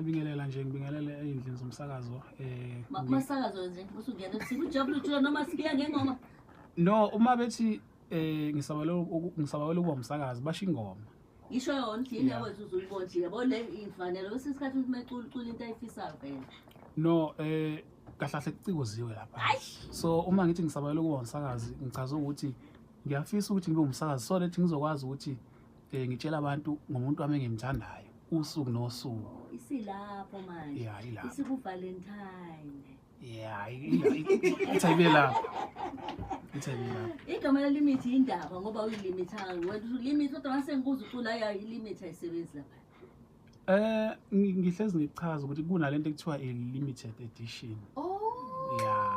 Ngibingelela nje ngibingelele ezindlini zomsakazo eh umasakazo nje usungena ebusuku ujabule uthula noma sikiya ngengoma No uma bethi eh ngisabale ngisabale ukuba umsakazi basho ingoma Isho yona thina wethu uzuyibona nje yabo le imfanele kwesinye isikhathi ukuthi mecula ucula into ayifisayo phela No eh kahlahle kucikoziwe lapha so uma ngithi ngisabale ukuba umsakazi ngichaza ukuthi ngiyafisa ukuthi ngibe umsakazi so lethi ngizokwazi ukuthi Eh ngitshela abantu ngomuntu wami engimthandayo usuku nosuku. Isilapho manje. Yeah, ilapho. Isiku Valentine. Yeah, ithi ibe lapho. Ithi ibe lapho. Igama le limit indaba ngoba uyilimithanga. Wena ulimit kodwa mase ngikuza ucula ya ilimit ayisebenzi lapha. Eh ngihlezi ngichaza ukuthi kunalento ekuthiwa i limited edition. Oh. Yeah.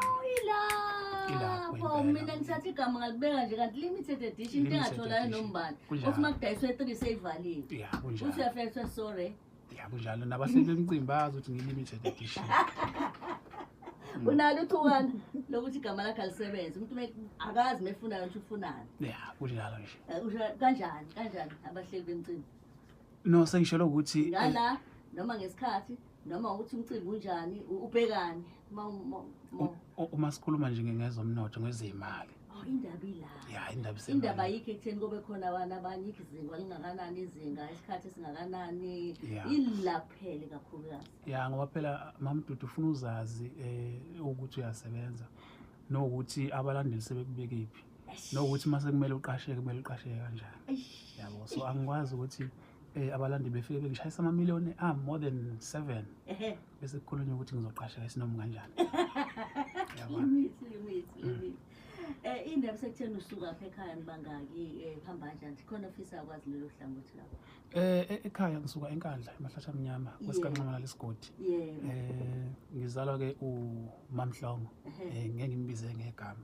Ilapho mina ngithatha igama ngalibeka nje kanti limited edition into engatholayo nombani. Uthi uma kudayiswe 3 seyivaliwe. Yeah, kunjalo. Uthi uyafetha sorry. Yeah, kunjalo nabahleli emcimbi bazi ukuthi ngi limited edition. Mm. unalo ithukana lokuthi igama lakhe alisebenze umuntu akazi mefunayo ukuthi ufunani ya kunjalo nje eh, kanjani kanjani abahleli bemcimbi no sengishelo ukuthi eh, ngala noma ngesikhathi noma ukuthi umcimbi unjani u- ubhekani uma uma- uma- u- u- uma sikhuluma nje ngezomnotho ngezimali Oh, indaba ila ya indaba isemali. indaba ayikho ekutheni kube khona abantu abanye izinga lingakanani izinga isikhathi esingakanani Yeah. ila kuphele kakhulukazi ya ngoba phela mamdudu ufuna uzazi um ukuthi uyasebenza nokuthi abalandeli sebekubekephi nokuthi uma sekumele uqasheke kumele uqasheke kanjani yabo so angikwazi ukuthi um abalandi befike bengishayisa amamiliyoni a ah, more than seven bese kukhulunywa ukuthi ngizoqasheka isinomi kanjani Eh indaba sekutheni usuka apha ekhaya nibangaki eh phamba kanjani khona ofisa akwazi lelo hlangothi lapho Eh e-, ekhaya ngisuka enkandla emahlathi amnyama kwesikanxamala lesigodi eh ngizalwa ke uMamhlongo eh ngeke ngimbize ngegama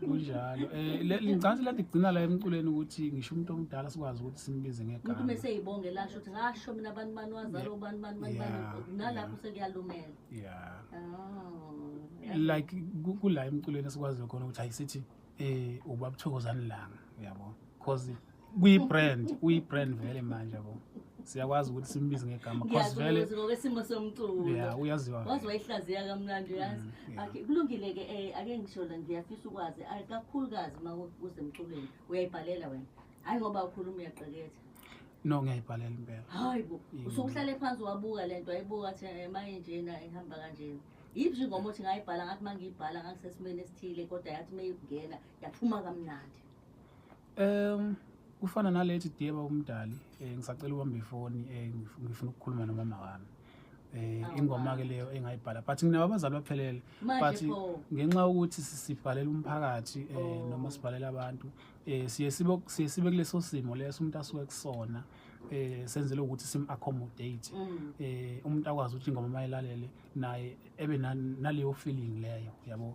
kunjalo um ngicabanga ukuthi kugcina la emculweni ukuthi ngisho umuntu omdala sikwazi ukuthi simbize ngegamuntu uma eseyibonge lasho ukuthi ngasho mina abantu bani wazalo bani bani bani bani nalapho sekuyalumela ya oh, like kula emculweni esikwaziyo khona ukuthi hayi sithi um ubabuthokozani langa uyabo because kuyi-brand kuyi-brand vele manje bo siyakwazi ukuthi simbize ngegama cause vele ngokwesimo somculo yeah uyaziwa wazi wayihlaziya kamnandi uyazi mm, okay kulungile ke eh ake ngisho la ngiyafisa ukwazi kakhulukazi uma kusemculweni uyayibhalela wena hayi ngoba ukhuluma uyaqeketha no ngiyayibhalela impela hayi bo usukuhlale phansi wabuka lento ayibuka athi eh, maye njena ihamba kanjena yiphi nje ngoba uthi ngayibhala ngathi uma ngiyibhala ngakusesimeni esithile kodwa yathi uma ingena yaphuma kamnandi Um kufana nalethi diyeba umdali um ngisacela ubamba ifoni um ngifuna ukukhuluma nomama wami eh oh, ingoma ke leyo engayibhala but nginabo abazali baphelele but ngenxa ukuthi sibhalela umphakathi eh oh. noma sibhalela abantu eh siye sibe siye sibe kuleso simo leso umuntu asuke kusona eh senzele ukuthi sim accommodate mm. eh umuntu akwazi ukuthi ingoma mayilalele naye ebe naleyo feeling leyo yabo